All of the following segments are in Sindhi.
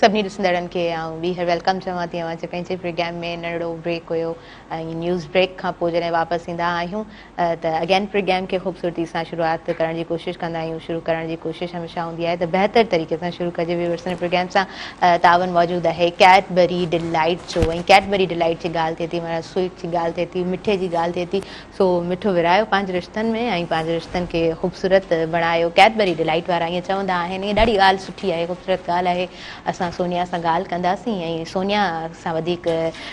سڀني ڏسندڙن کي آئون ٻيهر ويلڪم چوان ٿي اوهان جي پنهنجي پروگرام ۾ ننڍڙو بريڪ هيو ۽ نيوز بريڪ کان پوء جڏهن واپس ايندا آهيون ته اگين پروگرام کي خوبصورتي سان شروعات ڪرڻ جي ڪوشش ڪندا آهيون شروع ڪرڻ جي ڪوشش هميشه هوندي آهي ته بهتر طريقي سان شروع ڪجي ويورس ان پروگرام سان تعاون موجود آهي ڪيٽبري ڊيلائيٽ جو ۽ ڪيٽبري ڊيلائيٽ جي ڳالهه ٿئي ٿي مطلب سوئيٽ جي ڳالهه ٿئي ٿي مٺي جي ڳالهه ٿئي ٿي سو مٺو ورهايو پنهنجي رشتن ۾ ۽ پنهنجي رشتن کي خوبصورت بڻايو ڪيٽبري ڊيلائيٽ وارا ائين چوندا آهن ائين ڏاڍي ڳالهه سٺي آهي خوبصورت ڳالهه آهي اسان سونيا سان ڳالهه ڪنداسين ۽ سونيا سان وڌيڪ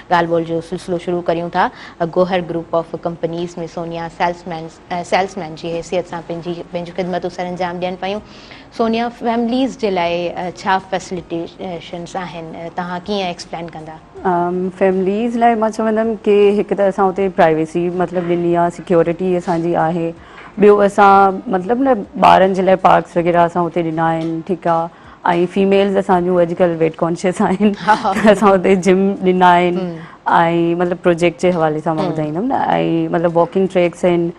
ڳالهه ٻولهه جو سلسلو شروع ڪريون ٿا. Gohar group of companies ۾ Sonia salesman salesman جي حيثيت سان پنهنجي پنهنجون خدمتون سرانجام ڏين پيون. سونيا فيمليز جي لاء ڇا فيسليٽيشنز آهن توهان ڪيئن ايڪسپلين ڪندا. فيمليز لاء مان چوندم ڪي هڪ ته اسان اتي پرائيويسي مطلب ڏني آهي سيڪيورٽي اسان جي آهي ٻيو اسان مطلب نه ٻارن جي لاء پارڪس وغيره اسان اتي ڏنا آهن ٺيڪ آهي. ۽ فيميلز اسان جون اڄڪلهه ويٽ ڪانشيس آهن ته اسان اتي جم ڏنا آهن ۽ مطلب پروجيڪٽ جي حوالي سان مان ٻڌائيندم نه ۽ مطلب واڪنگ ٽريڪس آهن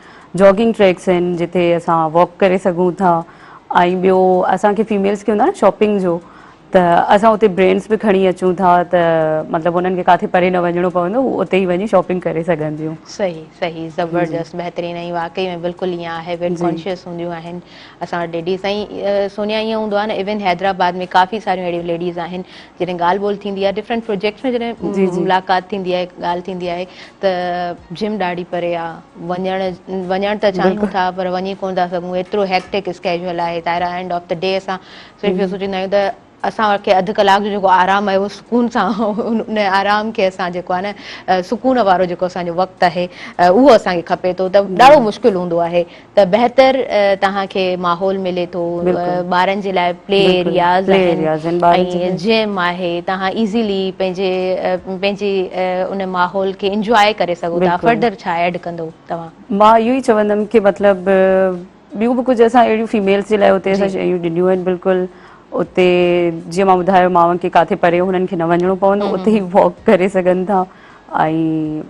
جاگنگ ٽريڪس آهن جتي اسان واڪ ڪري سگهون ٿا ۽ ٻيو اسانکي فيميلز کي هوندو آهي شاپنگ جو ته اسان اتي برينڊس به کڻي اچون ٿا ته مطلب انهن کي ڪاٿي پري نه وڃڻو پوندو هو اتي ئي وڃي شاپنگ ڪري سگهنديون صحيح صحيح زبردست بهترين ۽ واقعي ۾ بلڪل ائين آهي ويٽ ڪانشيس هونديون آهن اسان وٽ ليڊيز سائين سونيا ائين هوندو آهي نه ايون حيدرآباد ۾ ڪافي ساريون اهڙيون ليڊيز آهن جڏهن ڳالهه ٻولهه ٿيندي آهي ڊفرنٽ پروجيڪٽس ۾ جڏهن ملاقات ٿيندي آهي ڳالهه ٿيندي آهي ته جم ڏاڍي پري آهي وڃڻ وڃڻ ته چاهيون ٿا پر وڃي ڪونه ٿا سگهون ايترو هيڪٽڪ اسڪيجول آهي ظاهر آهي اينڊ آف دي ڊي اسان صرف اهو سوچيندا آهيون ته اسان کي اڌ ڪلاڪ جو جيڪو آرام آهي اهو سڪون سان ان آرام کي اسان جيڪو آهي نه سڪون وارو جيڪو اسان جو وقت آهي اهو اسان کي کپي ٿو ته ڏاڍو مشڪل هوندو آهي ته بهتر توهان کي ماحول ملي ٿو ٻارن جي لاء پلي ايرياز آهن ۽ جيم آهي توهان ايزلي پنهنجي پنهنجي ان ماحول کي انجواء ڪري سگهو ٿا فردر ڇا ايڊ ڪندو توهان؟ مان اهو ئي چوندم ڪي مطلب ٻيون به ڪجهه اسان اهڙيون فيميلس جي لاء اتي جي اسان شيون ڏنيون آهن بلڪل اتي جيئن مان ٻڌايو ماون کي ڪاٿي پري هنن کي نه وڃڻو پوندو اتي هي واڪ ڪري سگهن ٿا ۽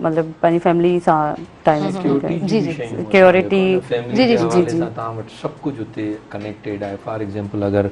مطلب پنهنجي فيملي سان ٽائيم اسپينڊ ڪري سيڪيورٽي جي به سيڪيورٽي شيون آهن جيڪو سيڪيورٽي ان فيملي جي جي جي حوالي جي سان تان وٽ سڀ ڪجهه اتي ڪنيڪٽيڊ آهي فار ايگزامپل اگر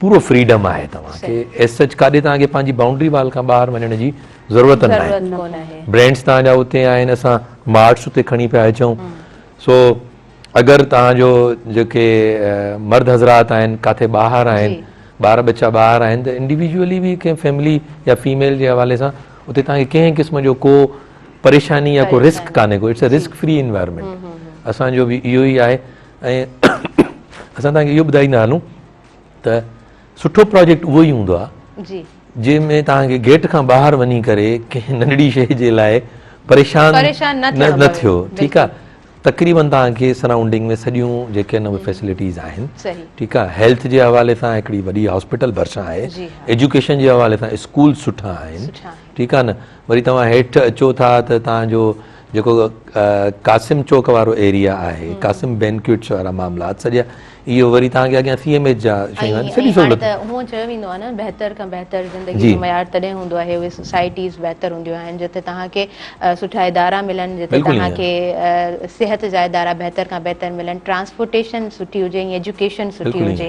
پورو فريڊم آهي توهان کي ايز سچ ڪاڏي توهان کي پنهنجي بائونڊري وال کان ٻاهر وڃڻ جي ضرورت نه آهي برينڊز توهان جا اتي آهن اسان مارٽس اتي کڻي پيا اچون سو اگر توهان جو جيڪي مرد حضرات آهن ڪاٿي ٻاهر آهن ٻار ٻچا ٻاهر آهن ته انڊيويجولي به ڪنهن فيملي يا فيميل جي حوالي سان اتي توهان کي ڪنهن قسم جو ڪو پريشاني يا ڪو رسڪ ڪانهي ڪو it's a risk free environment اسانجو به اهو ئي آهي ۽ اسان توهان کي اهو ٻڌائيندا هلون ته سٺو پراجيڪٽ اهو ئي هوندو آهي جي جنهن ۾ توهان کي گيٽ کان ٻاهر وڃي ڪري ڪنهن ننڍڙي شيء جي لاء پريشان نه ٿيو ٺيڪ آهي تقريبن توهان کي سرائونڊنگ ۾ سڄيون جيڪي نوي فيسلٽيز آهن ٺيڪ آهي هيلٿ جي حوالي سان هڪڙي وڏي هاسپيٽل ڀرسان آهي ايجوڪيشن جي حوالي سان اسڪول سٺا آهن ٺيڪ آهي نه وري توهان هيٺ اچو ٿا ته توهان جو جيڪو قاسم چوڪ وارو ايريا آهي قاسم بينڪوٽس وارا معاملات سڄا اهو وري توهان کي اڳيان سي ايم ايچ جا شيون آهن سڄي سهولت ۽ هاڻي ته هونء چيو ويندو آهي نه بهتر کان بهتر زندگي جو معيار تڏهن هوندو آهي اهي سوسائٽيز بهتر هونديون آهن جتي توهان کي سٺا ادارا ملن جتي توهان کي صحت جا ادارا بهتر کان بهتر ملن ٽرانسپورٽيشن سٺي هجي ۽ ايجوڪيشن سٺي هجي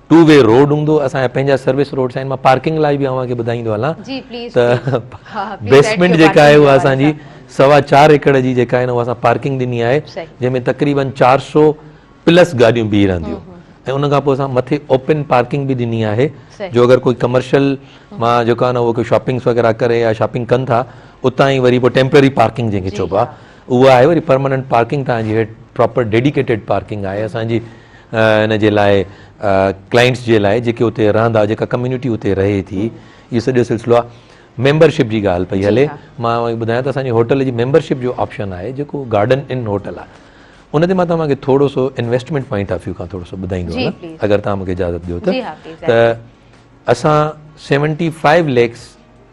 ٽو وي روڊ هوندو اسان جا پنهنجا سروس روڊس آهن مان پارڪنگ لاء به اوهان کي ٻڌائيندو هلان ته بيسمنٽ جيڪا آهي اها اسان جي سوا چار ايڪڙ جي جيڪا آهي اها اسان پارڪنگ ڏني آهي جنهن ۾ تقريبن چار سو پلس گاڏيون بيهي رهنديون ۽ ان کان پوء اسان مٿي اوپن پارڪنگ به ڏني آهي جو اگر ڪوئي ڪمرشل مان جيڪو آهي نه اهو ڪوئي شاپنگس وغيره ڪري يا شاپنگ ڪن ٿا اتان ئي وري پوء ٽيمپرري پارڪنگ جنهن کي چئبو آهي اهو آهي وري پرماننٽ پارڪنگ تان جي هيٺ پراپر ڊيڊيڪيٽيڊ پارڪنگ آهي اسان جي ان جي لاء ڪلائنٽس جي لاء جيڪي اتي رهندا جيڪا ڪميونٽي اتي رهي ٿي اهو سڄو سلسلو آهي ميمبرشپ جي ڳالهه پئي هلي مان اوهان کي ٻڌايان ته اسان جي هوٽل جي ميمبرشپ جو آپشن آهي جيڪو گارڊن ان هوٽل آهي ان تي مان توهان کي ٿورو سو انويسٽمنٽ پوائنٽ آف ويو کان ٿورو سو ٻڌائيندو آهيان اگر توهان مون کي اجازت ڏيو ته اسان seventy five lakhs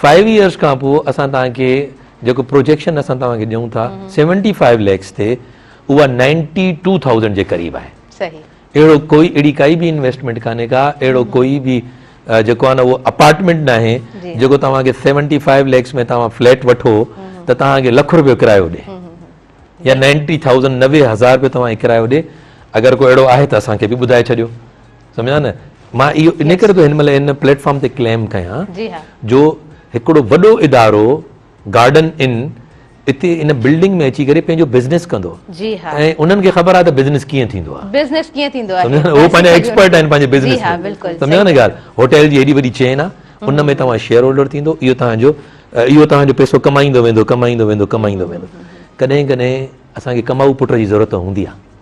five years کان پوء اسان توهان کي جيڪو پروجيڪشن اسان توهان کي ڏيون ٿا سيونٽي فائيو ليڪس تي اها نائنٽي ٽو ٿائوزنڊ جي قريب آهي اهڙو ڪوئي اهڙي ڪائي به انويسٽمينٽ ڪانهي ڪا اهڙو ڪوئي به جيڪو آهي نه اهو اپارٽمينٽ نه آهي جيڪو توهان کي سيونٽي فائيو ليڪس ۾ توهان فليٽ وٺو ته توهان کي لک روپيو ڪرايو ڏي يا نائنٽي ٿائوزنڊ نوي هزار روپيو توهان کي ڪرايو ڏي اگر ڪو اهڙو آهي ته اسان کي به ٻڌائي ڇڏيو سمجهيا نه مان اهو ان ڪري ٿو هن مهل هن پليٽ فارم تي ڪليم ڪيان جو هڪڙو وڏو ادارو گارڊن ان اتي ان بلڊنگ ۾ اچي ڪري پنهنجو بزنس ڪندو ۽ انهن کي خبر آهي ته بزنس ڪيئن ٿيندو آهي بزنس ڪيئن ٿيندو آهي سمجهيا نه هو پنهنجا ايڪسپرٽ آهن پنهنجي بزنس ۾ سمجهيا نه ڳالهه هوٽل جي هيڏي وڏي چين آهي ان ۾ توهان شيئر هولڊر ٿيندو اهو تهانجو اهو تهانجو پيسو ڪمائيندو ويندو ڪمائيندو ويندو ڪمائيندو ويندو ڪڏهن ڪڏهن اسان کي ڪمائو پٽ جي ضرورت هوندي آهي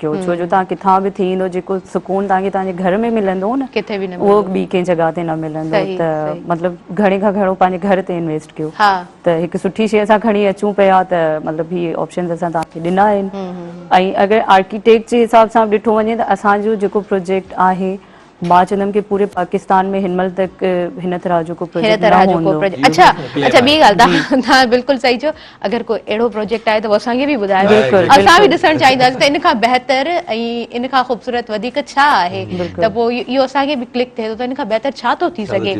ڪيو ڇو جو تهان ڪٿان به ٿي ايندو جيڪو سڪون تهان کي تهان جي گهر ۾ ملندو نه ڪٿي به نه اهو ملندو ٻي ڪنهن جڳهه تي نه ملندو صحيح ته صحيح مطلب گهڻي کان گهڻو پنهنجي گهر تي انويسٽ ڪيو ها ته هڪ سٺي شي اسان کڻي اچون پيا ته مطلب هي آپشنز اسان تهان کي ڏنا آهن ۽ اگر آرڪيٽيڪ جي حساب سان به ڏٺو وڃي ته اسان جو جيڪو پروجيڪٽ آهي مان چوندم ڪي پوري پاڪستان ۾ هن مهل تڪ هن طرح جو ڪو پروجيڪٽ نه هوندو اچا اچا ٻي ڳالھ تها بلڪل صحيح چيو اگر ڪو اهڙو پروجيڪٽ آهي ته اسان کي به ٻڌايو اسان به ڏسڻ چاهينداسين ته ان کان بهتر ۽ ان کان خوبصورت وڌيڪ ڇا آهي ته پو اهو اسان کي به ڪلڪ ٿئي ٿو ته ان کان بهتر ڇا ٿو ٿي سگهي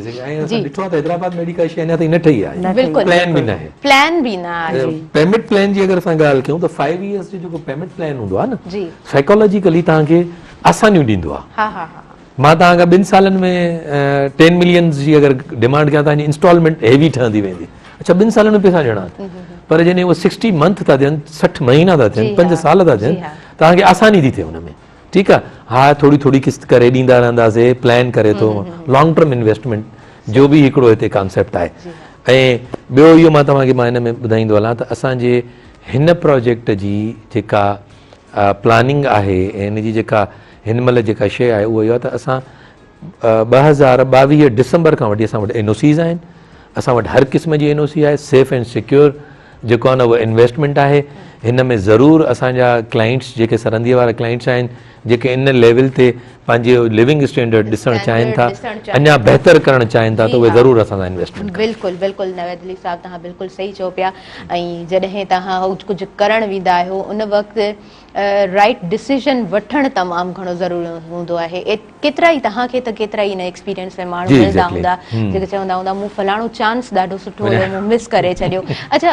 جي ڏٺو ته حيدرآباد ۾ اهڙي ڪا شي اڃا تائين نه ٺهي آهي بلڪل پلان به نه آهي پلان به نه آهي پيمنٽ پلان جي اگر اسان ڳالھ ڪيون ته فائيو يئرس جو جيڪو پيمنٽ پلان هوندو آهي نه جي سائيڪالاجيڪلي تها کي آسانيون ڏيندو آهي مان توهان کان ٻن سالن ۾ ٽين ملينز جي اگر ڊيمانڊ ڪيان توهان جي انسٽالمينٽ هيوي ٺهندي ويندي اچا ٻن سالن ۾ پيسا ڏيڻا آهن پر جڏهن اهو سڪسٽي منٿ ٿا ٿين سٺ مهينا ٿا ٿين پنج سال ٿا ٿين توهان کي آساني ٿي ٿئي ان ۾ ٺيڪ آهي ها ٿوري ٿوري قسط ڪري ڏيندا رهنداسي پلان ڪري ٿو لانگ ٽرم انويسٽمينٽ جو به هڪڙو هتي ڪانسيپٽ آهي ۽ ٻيو اهو مان توهان کي مان هن ۾ ٻڌائيندو هلان ته اسانجي هن پروجيڪٽ جي جيڪا پلاننگ آهي ۽ ان جي جيڪا هن مهل جيڪا شيء آهي اهو اهو آهي ته اسان ٻه هزار ٻاويهه ڊسمبر کان وٺي اسان وٽ اين او سيز آهن اسان وٽ هر قسم جي اين او سي آهي سيف اينڊ سيڪيور جيڪو آهي نه اهو انويسٽمينٽ آهي هن ۾ ضرور اسان جا ڪلائنٽس جيڪي سرنديء وارا ڪلائنٽس آهن جيڪي ان ليول تي پنهنجي لوونگ اسٽينڊرڊ ڏسڻ چاهين ٿا اڃا بهتر ڪرڻ چاهين ٿا ته اهي ضرور اسان سان انويسٽمينٽ ڪن بلڪل بلڪل نويد علي صاحب توهان بلڪل صحيح چئو پيا ۽ جڏهن توهان ڪجهه ڪرڻ ويندا آهيو ان وقت رائٽ ڊسيزن وٺڻ تمام گهڻو ضروري هوندو آهي ڪيترا ئي توهان کي ته ڪيترا ئي ان ايڪسپيرينس ۾ ماڻهو ملندا هوندا جيڪي چوندا هوندا مون فلاڻو چانس ڏاڍو سٺو هيو مون مس ڪري ڇڏيو اڇا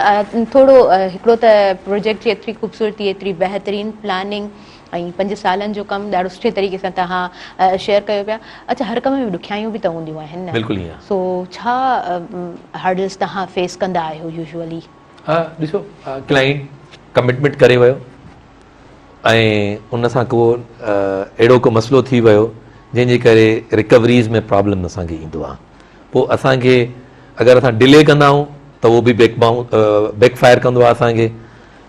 ٿورو هڪڙو ته پروجيڪٽ جي ايتري خوبصورتي ايتري بهترين پلاننگ ۽ پنج سالن جو ڪم ڏاڍو سٺي طريقي سان توهان شيئر ڪيو پيا اچا هر ڪم ۾ ڏکيائيون به ته هونديون آهن نه بلڪل ائين سو ڇا هرڊلس توهان فيس ڪندا آهيو يوزولي. ها ڏسو ڪلائنٽ ڪمٽمينٽ ڪري ويو ۽ ان سان ڪو اهڙو ڪو مسئلو ٿي ويو جنهن جي ڪري رڪوريز ۾ پرابلم اسان کي ايندو آهي پو اسان کي اگر اسان ڊلي ڪندا آهيون ته اهو به بيڪ بائون بيڪ فائر ڪندو آهي اسان کي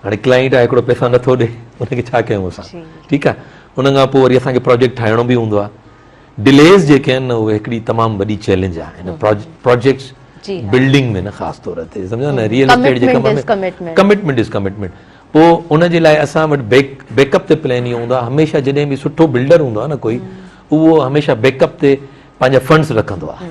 هاڻي ڪلائنٽ آهي هڪڙو پئسا نٿو ڏي ان کي ڇا ڪيون اسان ٺيڪ آهي ان کان پوء وري اسان کي پروجيڪٽ ٺاهڻو به هوندو آهي ڊليز جيڪي آهن نه اهي هڪڙي تمام وڏي چئلينج آهي هن پروجيڪٽس بلڊنگ ۾ نه خاص طور تي سمجهيو نه ريئل اسٽيٽ جي ڪم ۾ ڪمٽمنٽ از ڪمٽمنٽ پوء ان جي لاء اسان وٽ بيڪ بيڪ اپ تي پلان اهو هوندو آهي هميشه جڏهن به سٺو بلڊر هوندو آهي نه ڪوئي اهو هميشه بيڪ اپ تي پنهنجا فنڊس رکندو آهي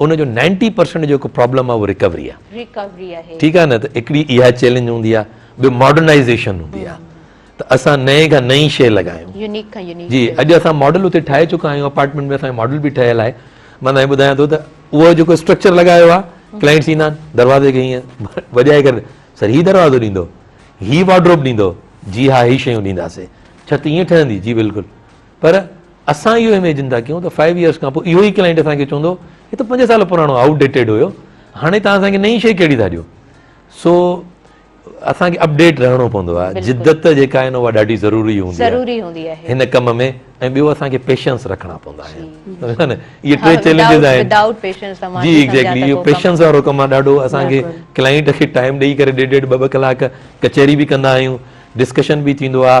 ان جو نائنٽي پرسينٽ جيڪو پرابلم آهي اهو ريڪوري آهي. ريڪوري آهي. ٺيڪ آهي نه ته هڪڙي اها چئلينج هوندي آهي ٻيو ماڊرنائيزيشن هوندي آهي ته اسان نئين کان نئين شيء لڳايون. يونيڪ کان يونيڪ. جي اڄ اسان ماڊل اتي ٺاهي چڪا آهيون اپارٽمينٽ ۾ اسان جو ماڊل به ٺهيل آهي مان تنهن ٻڌايان ٿو ته اهو جيڪو اسٽرڪچر لڳايو آهي ڪلائنٽس ايندا آهن دروازي کي هيئن وڄائي ڪري سر هي دروازو ڏيندو هي وارڊروب ڏيندو جي ها هي شيون ڏينداسي ڇت ايئن ٺهندي جي بلڪل پر اسان اهو اميجن ٿا ڪيون ته فائيو ايئرس کان پوء اهو ئي ڪلائنٽ اسان کي چوندو هي ته پنج سال پراڻو آئوٽ ڊيٽيڊ هيو هاڻي تان اسان کي نئين شي ڪهڙي ٿا ڏيو سو اسان کي اپڊيٽ رهڻو پوندو آهي جدت جيڪا آهي اها ڏاڍي ضروري هوندي آهي هن ڪم ۾ ۽ ٻيو اسان کي پيشنس رکڻا پوندا آهن اهي ٽي چئلينجز آهن جي ايگزيڪلي اهو پيشنس وارو ڪم آهي ڏاڍو اسان کي ڪلائنٽ کي ٽائيم ڏيئي ڪري ڏيڍ ڏيڍ ٻه ٻه ڪلاڪ ڪچهري به ڪندا آهيون ڊسڪشن به ٿيندو آهي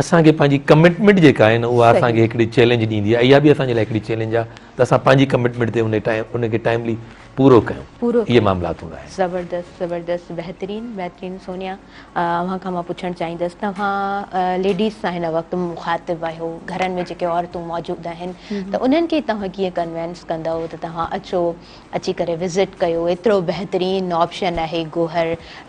اسان کي پنهنجي ڪمٽمينٽ جيڪا آهي نه اها اسان کي هڪڙي چئلينج ڏيندي آهي اها به اسان جي لاء هڪڙي چئلينج آهي ته اسان پنهنجي ڪمٽمينٽ تي ان ٽائيم ان کي ٽائيملي پورو ڪيون اهي معاملات هوندا آهن. زبردست زبردست بهترين بهترين سونيا اوهان کان مان پڇڻ چاهيندس توهان ليڊيز سان هن وقت مخاطب آهيو گهرن ۾ جيڪي عورتون موجود آهن ته انهن کي توهان ڪيئن ڪنوينس ڪندؤ ته توهان اچو اچي ڪري وزٽ ڪيو ايترو بهترين آپشن آهي گوهر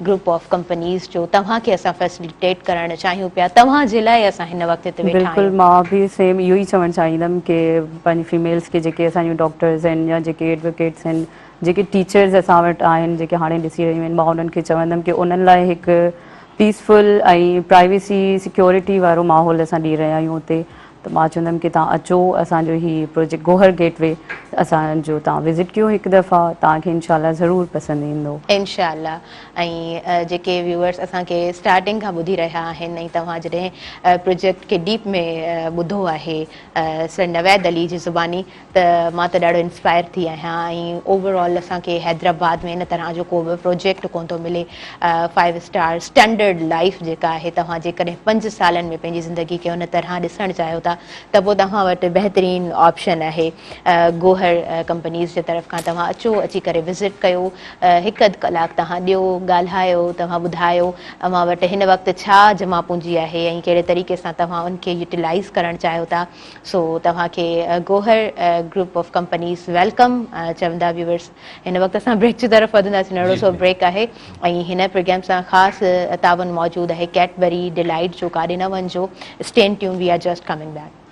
گروپ آف ڪمپنيز جو توهان کي اسان فيسليٽيٽ ڪرڻ چاهيون پيا توهان جي لاء اسان هن وقت هتي ويٺا آهيون. بلڪل مان به سيم اهو ئي چوڻ چاهيندم ڪي پنهنجي فيميلز کي جيڪي اسان جون ڊاڪٽرز آهن يا جيڪي ايڊوڪيٽس آهن جيڪي ٽيچرز اسان وٽ آهن جيڪي هاڻي ڏسي رهيون آهن مان انهن کي چوندم ڪي انهن لاء هڪ پيسفل ۽ پرائيويسي سيڪيورٽي وارو ماحول اسان ڏئي رهيا آهيون اتي ته مان چوندم ڪي تان اچو اسان جو هي پروجيڪٽ گوهر گيٽ وي اسان جو تان وزٽ ڪيو هڪ دفعا تان کي انشاء الله ضرور پسند ايندو. انشاء الله ۽ جيڪي ويوئرس اسان کي اسٽارٽنگ کان ٻڌي رهيا آهن ۽ توهان جڏهن پروجيڪٽ کي ڊيپ ۾ ٻڌو آهي سر نويد علي جي زباني ته مان ته ڏاڍو انسپائر ٿي آهيان ۽ اوور آل اسان کي حيدرآباد ۾ ان طرح جو ڪو به پروجيڪٽ ڪونه ٿو ملي فائيو اسٽار اسٽينڊرڊ لائيف جيڪا آهي توهان جيڪڏهن پنج سالن ۾ پنهنجي زندگي کي ان طرح ڏسڻ چاهيو ٿا ته پوء توهان وٽ بهترين آپشن آهي گوهر ڪمپنيز جي طرف کان توهان اچو اچي ڪري وزٽ ڪيو هڪ اڌ ڪلاڪ توهان ڏيو ڳالهايو توهان ٻڌايو اوهان وٽ هن وقت ڇا جمع پونجي آهي ۽ ڪهڙي طريقي سان توهان ان کي يوٽيلائيز ڪرڻ چاهيو ٿا سو توهان کي Gohar group of companies welcome چوندا ويورس هن وقت اسان بريڪ جي طرف وڌنداسين ننڍڙو سو بريڪ آهي ۽ هن پروگرام سان خاص تعاون موجود آهي ڪيٽبري ڊيلائيٽ جو ڪاڏي نه وڃجو stay tuned we are just coming back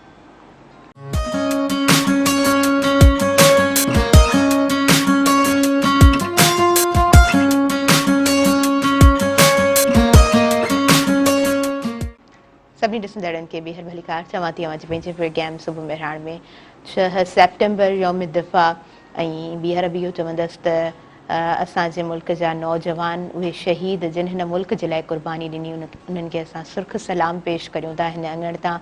سڀني ڏسندڙن کي ٻيهر ڀليڪار چوان ٿي اوهان جي پنهنجي پروگرام صبح مهراڻ ۾ ڇهه سيپٽمبر يوم دفاع ۽ ٻيهر به اهو چوندس ته اسان جي ملڪ جا نوجوان اهي شهيد جن هن ملڪ جي لاء قرباني ڏني انهن کي اسان سرخ سلام پيش ڪريون ٿا هن اڱڻ تان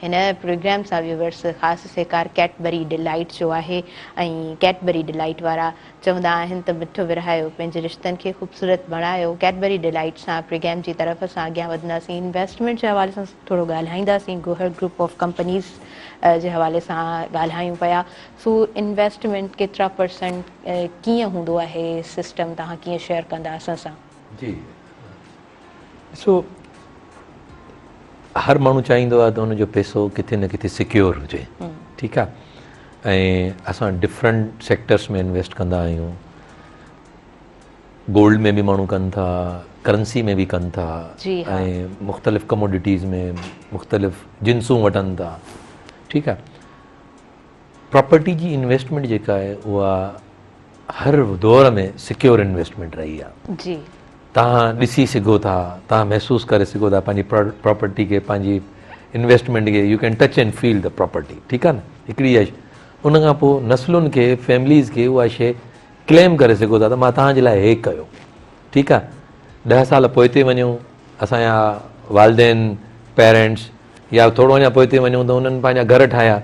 هن پروگرام سان ويورس خاص سهڪار ڪيٽبري ڊلائيٽ جو آهي ۽ ڪيٽبري ڊلائيٽ وارا چوندا آهن ته مٺ ورهايو، پنهنجي رشتن کي خوبصورت بڻايو، ڪيڊبري ڊيلائيٽ سان پريگيم جي طرف اسان اڳيان وڌنداسين، انويسٽمينٽ جي حوالي سان ٿورو ڳالهائينداسين، گوهر گروپ آف ڪمپنيز جي حوالي سان ڳالهايون پيا، سو انويسٽمينٽ ڪيترا پرسنٽ ڪيئن هوندو آهي سسٽم توهان ڪيئن شيئر ڪندا اسان سان. جي. ڏسو هر ماڻهو چاهيندو آهي ته ان جو پيسو ڪٿي نه ڪٿي سڪيور هجي ٺيڪ آهي ۽ اسان ڊفرنٽ سيڪٽرس ۾ انويسٽ ڪندا آهيون گولڊ ۾ به ماڻهو ڪن ٿا ڪرنسي ۾ به ڪن ٿا ۽ مختلف ڪموڊيٽيز ۾ مختلف جنسون وٺن ٿا ٺيڪ آهي پراپرٽي جي انويسٽمنٽ جيڪا آهي اها هر دور ۾ سڪيور انويسٽمينٽ رهي آهي. جي. توهان ڏسي سگهو ٿا، توهان محسوس ڪري سگهو ٿا پنهنجي پراپرٽي کي، پنهنجي انويسٽمينٽ کي، you can touch and feel the property ٺيڪ آهي نه هڪڙي اها شي ان کان پوء نسلن کي فيمليز کي اها شي ڪليم ڪري سگهو ٿا ته مان توهان جي لاء هي ڪيو ٺيڪ آهي ڏهه سال پوئتي وڃو اسان جا والدين، Parents، يا ٿورو اڃا پوئتي وڃون ته انهن پنهنجا گهر ٺاهيا.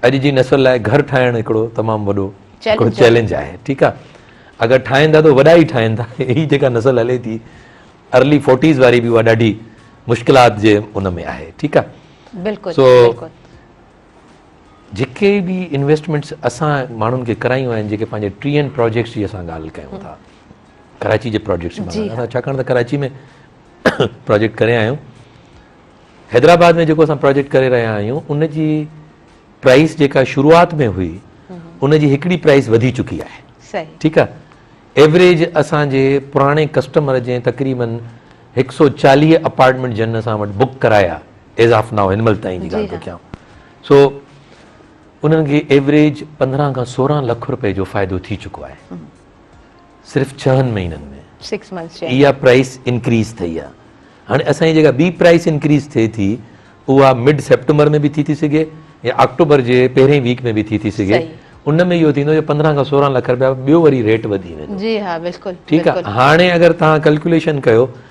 اڄ جي نسل لاء گهر ٺاهڻ هڪڙو تمام وڏو هڪڙو چئلينج آهي. ٺيڪ آهي. اگر ٺاهين ٿا ته وڏا ئي ٺاهين ٿا. هي جيڪا نسل هلي ٿي Early Forties واري به اها ڏاڍي مشڪلات جي ان ۾ آهي. ٺيڪ آهي. بلڪل سو جيڪي به انويسٽمينٽس اسان ماڻهن کي ڪرايون آهن جيڪي پنهنجي ٽيهن پراجيڪٽس جي اسان ڳالهه ڪيون ٿا. ڪراچي جي پراجيڪٽس جي باري ۾ ڇاڪاڻ ته ڪراچي ۾ پراجيڪٽ ڪري آيا آهيون حيدرآباد ۾ جيڪو اسان پراجيڪٽ ڪري رهيا آهيون ان جي پرائز جيڪا شروعات ۾ هئي ان جي هڪڙي پرائز وڌي چڪي آهي ٺيڪ آهي ايوریج اسانجي پراڻي ڪسٽمر جي تقريبن هڪ سو چاليهه اپارٽمنٽ جن اسان وٽ بڪ ڪرايا ايز آف ناء هن مهل تائين جي ڳالهه ٿو ڪيان سو انهن کي ايوریج پندرهن کان سورهن لک روپئي جو فائدو ٿي چڪو آهي صرف ڇهن مهينن ۾ Six months جي اندر. اها پرائس انڪريز ٿئي آهي هاڻي اسان جي جيڪا ٻي پرائس انڪريز ٿئي ٿي اها مڊ سيپٽمبر ۾ به ٿي ٿي سگهي يا آڪٽوبر جي پهرين ويڪ ۾ به ٿي ٿي سگهي صحيح. ان ۾ اهو ٿيندو جو پندرهن کان سورهن لک رپيا ٻيو وري ريٽ وڌي ويندو جي ها بلڪل ٺيڪ آهي بلڪل هاڻي اگر توهان ڪلڪوليشن ڪيو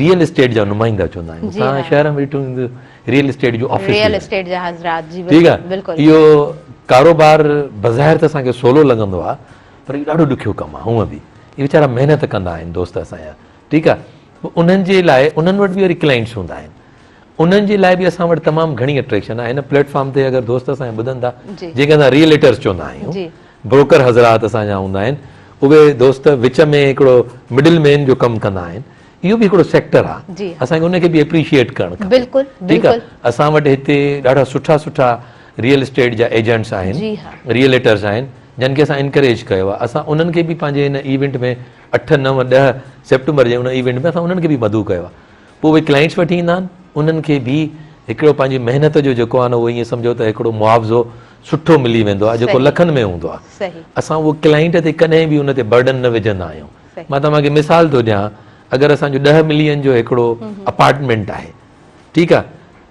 ريئل اسٽيٽ جا نمائندا چوندا آهيون اسان شهر ۾ ڏٺو ويندو ريئل اسٽيٽ جو آفيس ريئل اسٽيٽ جا حضرات جي ٺيڪ آهي اهو ڪاروبار بظاهر ته اسان کي سولو لڳندو آهي پر اهو ڏاڍو ڏکيو ڪم آهي هونء به اهي ويچارا محنت ڪندا آهن دوست اسان جا ٺيڪ آهي انهن جي لاء انهن وٽ به وري ڪلائنٽس هوندا آهن انهن جي لاء بि اسان وٽ تمام گهڻي اٽريڪشن آهي هن پليٽفارم تي اگر دوست اسان ٻڌن ٿا جيڪي اسان ريئل ايٽرس چوندا آهيون بروڪر حضرات اسان جا هوندا آهن اهي دوست وچ ۾ هڪڙو مڊل مين جو ڪم ڪندا آهن اهو به هڪڙو سيڪٽر آهي اسان کي ان کي به اپريشيئيٽ ڪرڻ کپي ٺيڪ آهي اسان وٽ هتي ڏاڍا سٺا سٺا ريئل اسٽيٽ جا ايجنٽس آهن ريئليٽرس آهن جن کي اسان انڪريج ڪيو آهي اسان انهن کي به پنهنجي هن ايونٽ ۾ اٺ نو ڏهه سيپٽمبر جي ان ايونٽ ۾ اسان انهن کي به مدعو ڪيو آهي پوء اهي ڪلائنٽس وٺي ايندا آهن، انهن کي به هڪڙو پنهنجي محنت جو جيڪو آهي نه اهو ائين سمجهو ته هڪڙو معاوضو سٺو ملي ويندو آهي جيڪو لکن ۾ هوندو آهي. اسان اهو ڪلائنٽ تي ڪڏهن به ان تي برڊن نه وجهندا آهيون. مان توهان کي مثال ٿو ڏيان اگر اسان جو ڏهه ملين جو هڪڙو اپارٽمينٽ آهي ٺيڪ آهي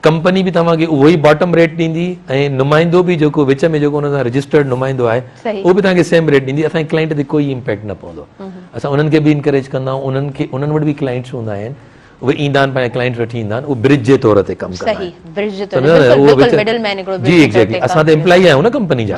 ڪمپني به توهان کي اهو ئي باٽم ريٽ ڏيندي ۽ نمائندو به جيڪو وچ ۾ جيڪو ان سان رجسٽرڊ نمائندو آهي اهو به توهان کي سيم ريٽ ڏيندي اسان جي ڪلائنٽ تي ڪوئي امپيڪٽ نه پوندو اسان انهن کي به انڪريج ڪندا آهيون انهن کي انهن وٽ به ڪلائنٽس هوندا آهن اهي ايندا آهن پنهنجا ڪلائنٽس وٺي ايندا آهن اهو برج جي طور تي ڪم ڪندا آهن جي ايگزيڪٽلي اسان ته امپلائي آهيون نه ڪمپني جا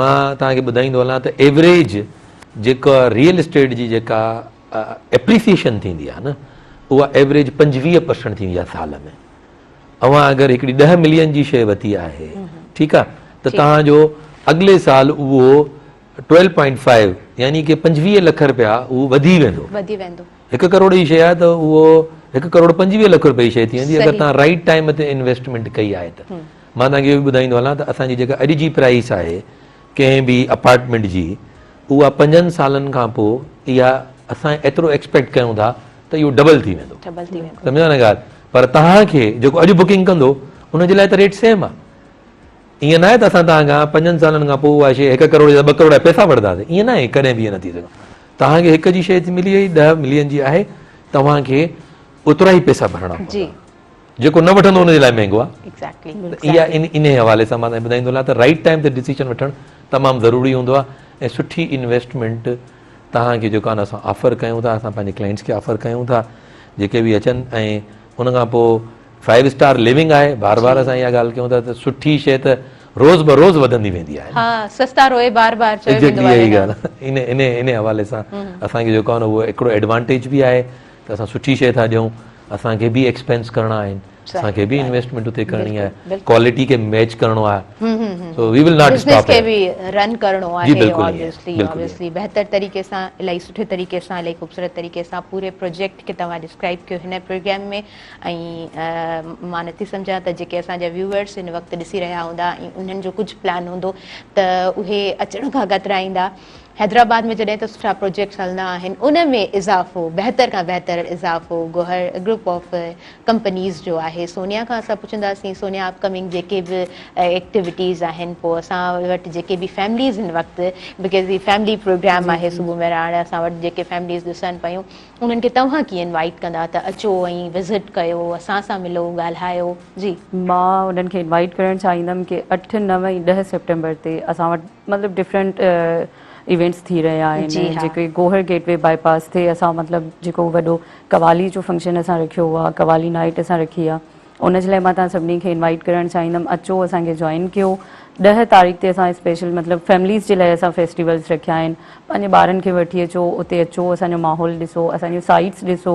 مان توهان کي ٻڌائيندو هلان ته ايوريج جيڪا ريئل اسٽيٽ جي جيڪا ايپريسيشن ٿيندي آهي نه اها ايوريج پنجويهه پرسنٽ ٿيندي آهي سال ۾ اوهان اگر هڪڙي ڏهه ملين جي شيء ورتي آهي ٺيڪ آهي ته توهان جو اڳلي سال اهو ٽويلو پوائنٽ فائيو يعني ڪي پنجويهه لک رپيا اهو وڌي ويندو وڌي ويندو هڪ ڪروڙ جي شيء آهي ته اهو هڪ ڪروڙ پنجويهه لک رپيا جي شيء ٿي ويندي اگر توهان رائٽ ٽائيم تي انويسٽمينٽ ڪئي آهي ته مان توهان کي اهو به ٻڌائيندو هلان ته اسان جي جيڪا اڄ جي پرائيس آهي ڪنهن به اپارٽمينٽ جي اها پنجن سالن کان پوء اها اسان ايترو ايڪسپيڪٽ ڪيون ٿا ته اهو ڊبل ٿي ويندو سمجهيو نه ڳالهه پر توهان کي جيڪو اڄ بڪنگ ڪندو ان جي لاء ته ريٽ سيم آهي ائين ناهي ته اسان توهان کان پنجن سالن کان پوء اها شي هڪ ڪروڙ جا ٻه ڪروڙ پيسا وٺنداسين ائين ناهي ڪڏهن به ائين نه ٿي سگهندو توهان کي هڪ جي شي ملي وئي ڏهه ملين جي آهي توهان کي اوترا ئي پيسا ڀرڻا پوندا جيڪو نه وٺندو ان جي لاء مهنگو آهي. اها انهي حوالي سان مان ٻڌائيندو هلان ته رائٽ ٽائيم تي ڊسيشن وٺڻ تمام ضروري هوندو آهي ۽ سٺي انويسٽمينٽ توهان کي جيڪو آهي اسان آفر ڪيون ٿا اسان پنهنجي ڪلائنٽس کي آفر ڪيون ٿا جيڪي به اچن ۽ ان کان پوء فائيو اسٽار ليونگ آهي بار بار اسان اها ڳالهه ڪيون ٿا ته سٺي شي ته روز بروز وڌندي ويندي آهي انهي حوالي سان اسان کي جيڪو آهي نه اهو هڪڙو ايڊوانٽيج به آهي ته اسان سٺي شيء ٿا ڏيون اسان کي به ايڪسپينس ڪرڻا آهن اسان کي به انويسٽمينٽ اتي ڪرڻي آهي ڪوالٽي کي ميچ ڪرڻو آهي so we will not stop کي به رن ڪرڻو آهي اوبويسلي اوبويسلي بهتر طريقي سان الائي سٺي طريقي سان الائي خوبصورت طريقي سان پوري پروجيڪٽ کي توهان ڊسڪرائب ڪيو هن پروگرام ۾ ۽ مان نٿي سمجهان ته جيڪي اسان جا ويوورس هن وقت ڏسي رهيا هوندا ۽ انهن جو ڪجهه پلان هوندو ته اهي اچڻ کان ڪترائيندا حيدرآباد ۾ جڏهن ته سٺا پروجيڪٽس هلندا آهن ان ۾ اضافو بهتر کان بهتر اضافو گوهر گروپ آف ڪمپنيز جو آهي سونيا کان اسان پڇنداسين سونيا اپ ڪمنگ جيڪي به ايڪٽيوٽيز آهن پوء اسان وٽ جيڪي به فيمليز هن وقت بڪاز هي فيملي پروگرام آهي صبح مهراڻ اسان وٽ جيڪي فيمليز ڏسن پيون انهن کي توهان ڪيئن انوائيٽ ڪندا ته اچو ۽ وزٽ ڪيو اسان سان ملو ڳالهايو جي. مان انهن کي انوائيٽ ڪرڻ چاهيندم ڪي اٺ نو ۽ ڏهه سيپٽمبر تي اسان وٽ مطلب ڊفرنٽ ايونٽس ٿي رهيا آهن جي ها جيڪي Gohar gateway bypass تي اسان مطلب جيڪو وڏو قوالي جو فنڪشن اسان رکيو آهي قوالي نائيٽ اسان رکي آهي ان جي لاء مان تهان سڀني کي انوائيٽ ڪرڻ چاهيندم اچو اسان کي جوائن ڪيو ڏهه تاريخ تي اسان اسپيشل مطلب فيمليز جي لاء اسان فيسٽيولس رکيا آهن پنهنجي ٻارن کي وٺي اچو اتي اچو اسان جو ماحول ڏسو اسان جون سائيٽس ڏسو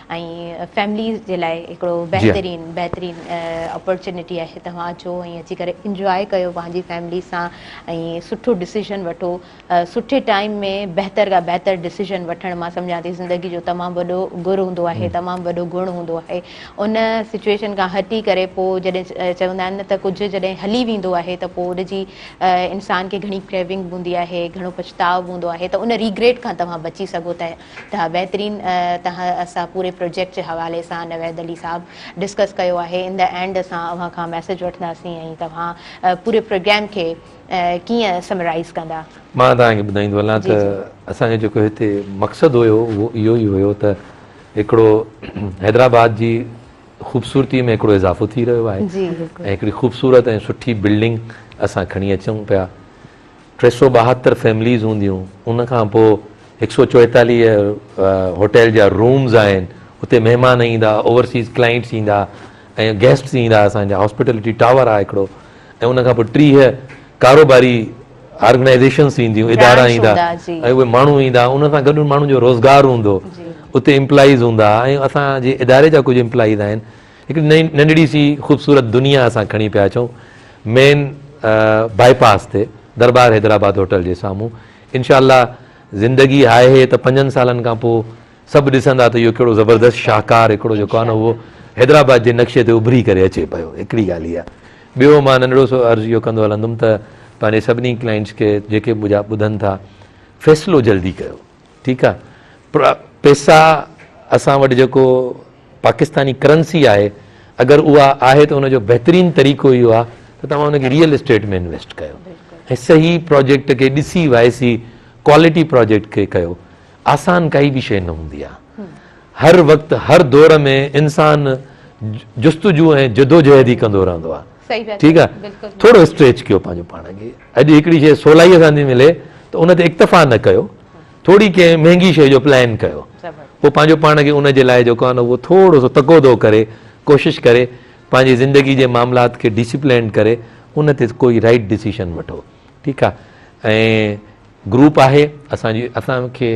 ۽ فيمليز جي لاء هڪڙو بهترين بهترين اپورچونيٽي آهي توهان اچو ۽ اچي ڪري انجواء ڪيو پنهنجي فيملي سان ۽ سٺو ڊسيزن وٺو سٺي ٽائيم ۾ بهتر کان بهتر ڊسيزن وٺڻ مان سمجهان ٿي زندگي جو تمام وڏو گر هوندو آهي تمام وڏو گڻ هوندو آهي ان سچويشن کان هٽي ڪري پوء جڏهن چوندا آهن نه ته ڪجهه جڏهن هلي ويندو آهي ته پوء ان جي انسان کي گهڻي ڪريونگ هوندي آهي گهڻو پڇتاء هوندو آهي ته ان ريگريٽ کان توهان بچي سگهو ٿا ته بهترين تهه اسان پوري پروجيڪٽ جي حوالي سان نويد علي صاحب ڊسڪس ڪيو آهي ان دي اينڊ اسان اوهان کان ميسج وٺنداسين ۽ توهان پوري پروگرام کي ڪيئن سمرائيز ڪندا. مان توهان کي ٻڌائيندو هلان ته اسان جو جيڪو هتي مقصد هيو اهو اهو ئي هيو ته هڪڙو حيدرآباد جي خوبصورتي ۾ هڪڙو اضافو ٿي رهيو آهي ۽ هڪڙي خوبصورت ۽ سٺي بلڊنگ اسان کڻي اچون پيا ٽي سؤ ٻاهتر فيمليز هونديون ان کان پوء هڪ سؤ چوئيتاليهه هوٽل جا رومز آهن اتي مهمان ايندا اوورسيز ڪلائنٽس ايندا ۽ گيسٽس ايندا اسان جا هاسپيٽلٽي ٽاور آهي هڪڙو ۽ ان کان پوء ٽيهه ڪاروباري آرگنائزيشنس اينديون ادارا ايندا ۽ اهي ماڻهو ايندا ان سان گڏ ماڻهن جو روزگار هوندو اتي امپلائيز هوندا ۽ اسان جي اداري جا ڪجهه امپلائيز آهن هڪ ننڍڙي سي خوبصورت دنيا اسان کڻي پيا اچون مين بائي پاس تي دربار حيدرآباد هوٽل جي سامهون انشاء الله زندگي آهي ته پنجن سالن کان پوء سڀ ڏسندا ته اهو ڪهڙو زبردست شاهڪار هڪڙو جو ڪانو هو حيدرآباد جي نقشي تي اڀري ڪري اچي پيو هڪڙي ڳالهه هي ٻيو مان ننڍڙو سو عرض اهو ڪندو هلندم ته پنهنجي سڀني ڪلائنٽس کي جيڪي مجا ٻڌن ٿا فيصلو جلدي ڪيو ٺيڪ آ پر پيسا اسان وٽ جيڪو پاڪستاني ڪرنسي آهي اگر اها آهي ته ان جو بهترين طريقو اهو آ ته توهان ان کي ريئل اسٽيٽ ۾ انويسٽ ڪيو ۽ صحيح پروجيڪٽ کي ڏسي وائسي ڪوالٽي پروجيڪٽ کي ڪيو آسان ڪائي به شيء نه هوندي آ هر وقت هر دور ۾ انسان جستجو ۽ جدوجهد ئي ڪندو رهندو آ ٺيڪ آ ٿورو اسٽريچ ڪيو پنهنجو پاڻ کي اڄ هڪڙي شيء سولائيء سان ٿي ملي ته ان تي اڪتفا نه ڪيو ٿوري ڪنهن مهنگي شيء جو پلان ڪيو پوء پنهنجو پاڻ کي ان جي لاء جيڪو آ نه اهو ٿورو سو تقوضو ڪري ڪوشش ڪري پنهنجي زندگي جي معاملات کي ڊسپلينڊ ڪري ان تي ڪوئي رائٽ ڊسيشن وٺو ٺيڪ آ ۽ گروپ آهي اسان جي اسان کي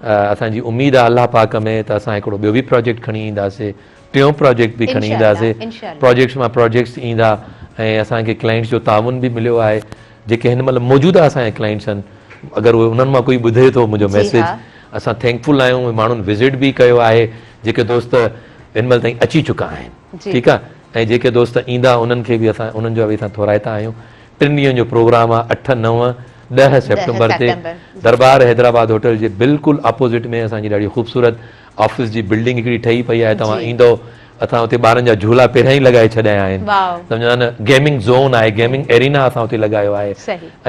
اسان جي اميد آهي الله پاڪ ۾ ته اسان هڪڙو ٻيو به پراجيڪٽ کڻي اينداسي ٽيون پراجيڪٽ به کڻي اينداسي پراجيڪٽس مان پراجيڪٽس ايندا ۽ اسان کي ڪلائنٽس جو تعاون به مليو آهي جيڪي هن مهل موجوده اسان جا ڪلائنٽس آهن اگر اهي انهن مان ڪوئي ٻڌي ٿو منهنجو ميسيج اسان ٿينڪ فل آهيون ماڻهن وزٽ به ڪيو آهي جيڪي دوست هن مهل تائين اچي چڪا آهن ٺيڪ آهي ۽ جيڪي دوست ايندا انهن کي به اسان انهن جا به اسان ٿورائتا آهيون ٽن ڏينهن جو پروگرام آهي، اٺ، نو، ڏهه سيپٽمبر تي دربار حيدرآباد هوٽل جي بلڪل اپوزٽ ۾ اسان جي ڏاڍي خوبصورت آفيس جي بلڊنگ هڪڙي ٺهي پئي آهي، توهان ايندؤ اسان اتي ٻارن جا جهولا پهريان ئي لڳائي ڇڏيا آهن، سمجهيو نه، گيمنگ زون آهي، گيمنگ ارينا اسان اتي لڳايو آهي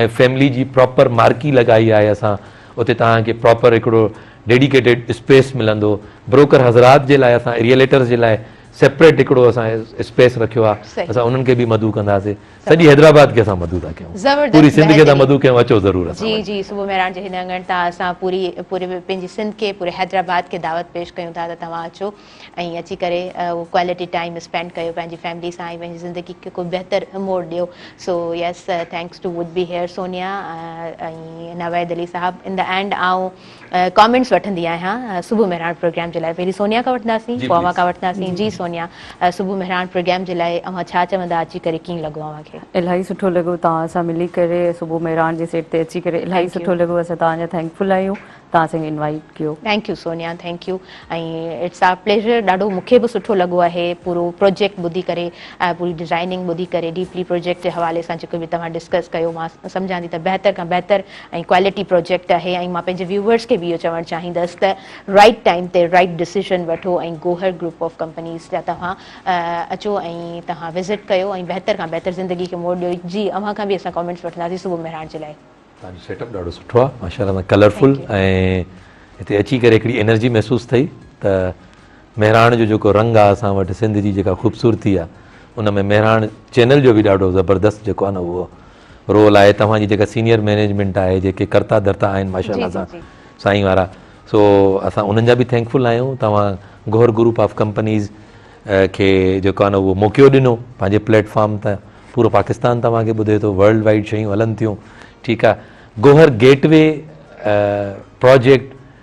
۽ فيملي جي پراپر مارڪي لڳائي آهي اسان، اتي توهان کي پراپر هڪڙو ڊيڊيڪيٽيڊ اسپيس ملندو، بروڪر حضرات جي لاء اسان ريئليٽرز جي لاء سيپريٽ هڪڙو اسان اسپيس رکيو آهي، اسان انهن کي به مدعو ڪنداسين. سڄي حيدرآباد کي اسان مدعو ٿا ڪيون پوري سنڌ کي ٿا مدعو ڪيون اچو ضرور اسان وٽ. جي جي صبح مهراڻ جي هن اڱڻ تان اسان پوري پوري پنهنجي سنڌ کي پوري حيدرآباد کي دعوت پيش ڪيون ٿا ته توهان اچو ۽ اچي ڪري اهو ڪوالٽي ٽائيم اسپينڊ ڪيو پنهنجي فيملي سان ۽ پنهنجي زندگي کي ڪو بهتر موڙ ڏيو so yes thanks to would be here Sonia ۽ Naveed Ali Sahib in the end آئون ڪامينٽس وٺندي آهيان صبح مهراڻ پروگرام جي لاء پهرين سونيا کان وٺنداسين پوء اوهان کان وٺنداسين جي سونيا صبح مهراڻ پروگرام جي لاء اوهان ڇا چوندا اچي ڪري ڪيئن لڳو اوهان کي. الاهي سٺو لڳو توهان سان ملي ڪري صبح مهراڻ جي سيٽ تي اچي ڪري الاهي سٺو لڳو اسان توهان جا ٿينڪ فل آهيون توهان اسان کي انوائيٽ ڪيو. Thank you Sonia thank you ۽ it's our pleasure ڏاڍو مونکي به سٺو لڳو آهي پورو پروجيڪٽ ٻڌي ڪري پوري ڊزائننگ ٻڌي ڪري ڊيپلي پروجيڪٽ جي حوالي سان جيڪو به توهان ڊسڪس ڪيو مان سمجهان ٿي ته بهتر کان بهتر ۽ ڪوالٽي پروجيڪٽ آهي ۽ مان پنهنجي ويوورز کي به اهو چوڻ چاهيندس ته رائٽ ٽائيم تي رائٽ ڊسيزن وٺو ۽ گوهر گروپ آف ڪمپنيز جا توهان اچو ۽ توهان وزٽ ڪيو ۽ بهتر کان بهتر زندگي کي موڙ ڏيو جي اوهان کان به اسان ڪامينٽس وٺنداسين صبح مهراڻ جي لاء. توهان جو سيٽ اپ ڏاڍو سٺو آهي ماشاء الله ڪلر فل ۽ هتي اچي ڪري هڪڙي انرجي محسوس ٿئي ته مهراڻ جو جيڪو رنگ آهي اسان وٽ سنڌ جي جيڪا خوبصورتي آهي ان ۾ مهراڻ چينل جو به ڏاڍو زبردست جيڪو آهي نه اهو رول آهي توهان جي جيڪا سينيئر مينيجمينٽ آهي جيڪي ڪرتا ڌرتا آهن ماشاء الله سان سائين وارا سو اسان انهن جا به ٿينڪفل آهيون توهان گوهر گروپ آف ڪمپنيز کي جيڪو آهي اهو موقعو ڏنو پنهنجي پليٽفارم تان پورو پاڪستان توهان کي ٻڌي ٿو ورلڊ وائيڊ شيون هلن ٿيون ٺيڪ آهي گوهر گيٽ وي پروجيڪٽ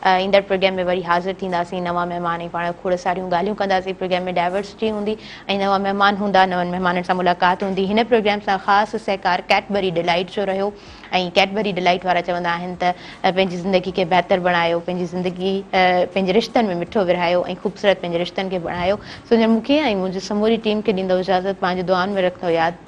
ايندڙ پروگرام ۾ وري حاضر ٿينداسين نوان مهمان ۽ پاڻ کوڙ ساريون ڳالهيون ڪنداسين پروگرام ۾ ڊائورسٽي هوندي ۽ نوان مهمان هوندا نون مهمانن سان ملاقات هوندي هن پروگرام سان خاص سهڪار ڪيٽبري ڊلائيٽ جو رهيو ۽ ڪيٽبري ڊلائيٽ وارا چوندا آهن ته پنهنجي زندگي کي بهتر بڻايو پنهنجي زندگي پنهنجي رشتن ۾ مٺو ورهايو ۽ خوبصورت پنهنجي رشتن کي بڻايو سو مون کي ۽ منهنجي سموري ٽيم کي ڏيندو اجازت پنهنجي دعائن ۾ رکندو ياد.